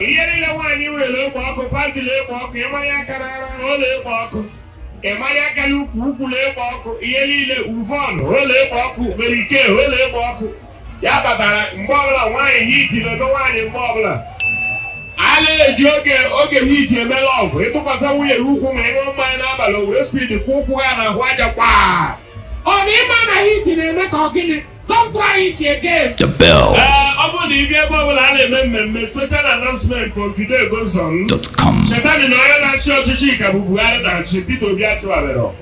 ihe niile nwaanyị nwere na-ekpo ọkụ pantị na-ekpo ọkụ ị manye aka n'ara ọ na-ekpo ọkụ ị manye aka n'ukwu ukwu na-ekpo ọkụ ihe niile uvon ọ na-ekpo ọkụ mere ike ọ na-ekpo ọkụ ya batara mgbe ọbụla nwaanyị heat na-eme nwaanyị mgbe ọbụla a na-eji oge oge heat eme love ị tụkwasị nwunye gị ụkwụ ma ị ṅụọ mmanya n'abalị o were speed kwaa ụkwụ ya n'ahụ aja kwaa ọ na ị ma na heat na-eme ka ọ gịnị Don't try it again. The bells. Eh, ọ bụrụ na ị bịa ebe ọbụla a na-eme mmemme special announcement from today goes on. dot com. Chetani na onye na-achị ọchịchị ka bụ Buhari na-achị Peter Obi achịbarọ.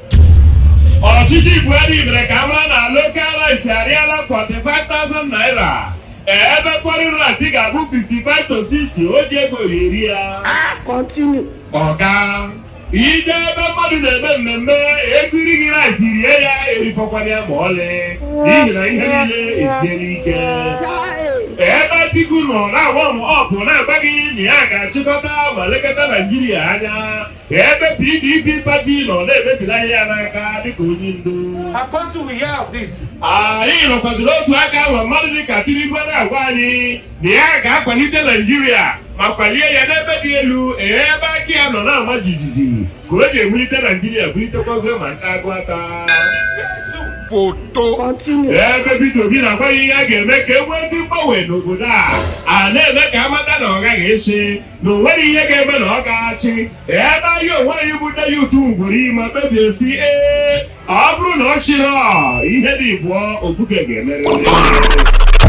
Ọchịchị Buhari mere ka a mara na local rice arịala 45,000 naira. Eh, ebe foreign rice ga-abụ 55 to 60 o ji ego ya eri ya. Continue. Ọga. i je ebe mmadụ na-eme mmemme e keere gị rice rie ya erifọkwala ya ma ọlị n'ihi na ihe niile esiela ike ebe Atiku nọ na-agwa m ọpụ na-agwa gị na ya ga-achịkọta ma lekọta Naijiria anya ebe PDP party nọ na-emebila ihe ya n'aka dịka onye ndu Apostle, we hear of this. anyị nọkwaziri otu aka ma mmadụ dịka Tinubu na-agwa anyị na ya ga-akwalite Naijiria ma kwalie ya n'ebe dị elu ee ebe aka ya nọ na-ama jijiji ka o ji ewulite Naijiria bulitekwa ofe ma ndị agụ ata foto Continue. ebe Peter Obi na-agwa ya ihe a ga-eme ka e nwee ezi mgbanwe n'obodo a a na-eme ka a mata na ọ gaghị asị na o nwere ihe ga-eme na ọ ga-achị ebe anyị onwe anyị bụ ndị youth kwere ma kpebie sị ee Ọ bụrụ na ọ chịrị ọ, ihe dị bụọ obuke ga-emerịrị.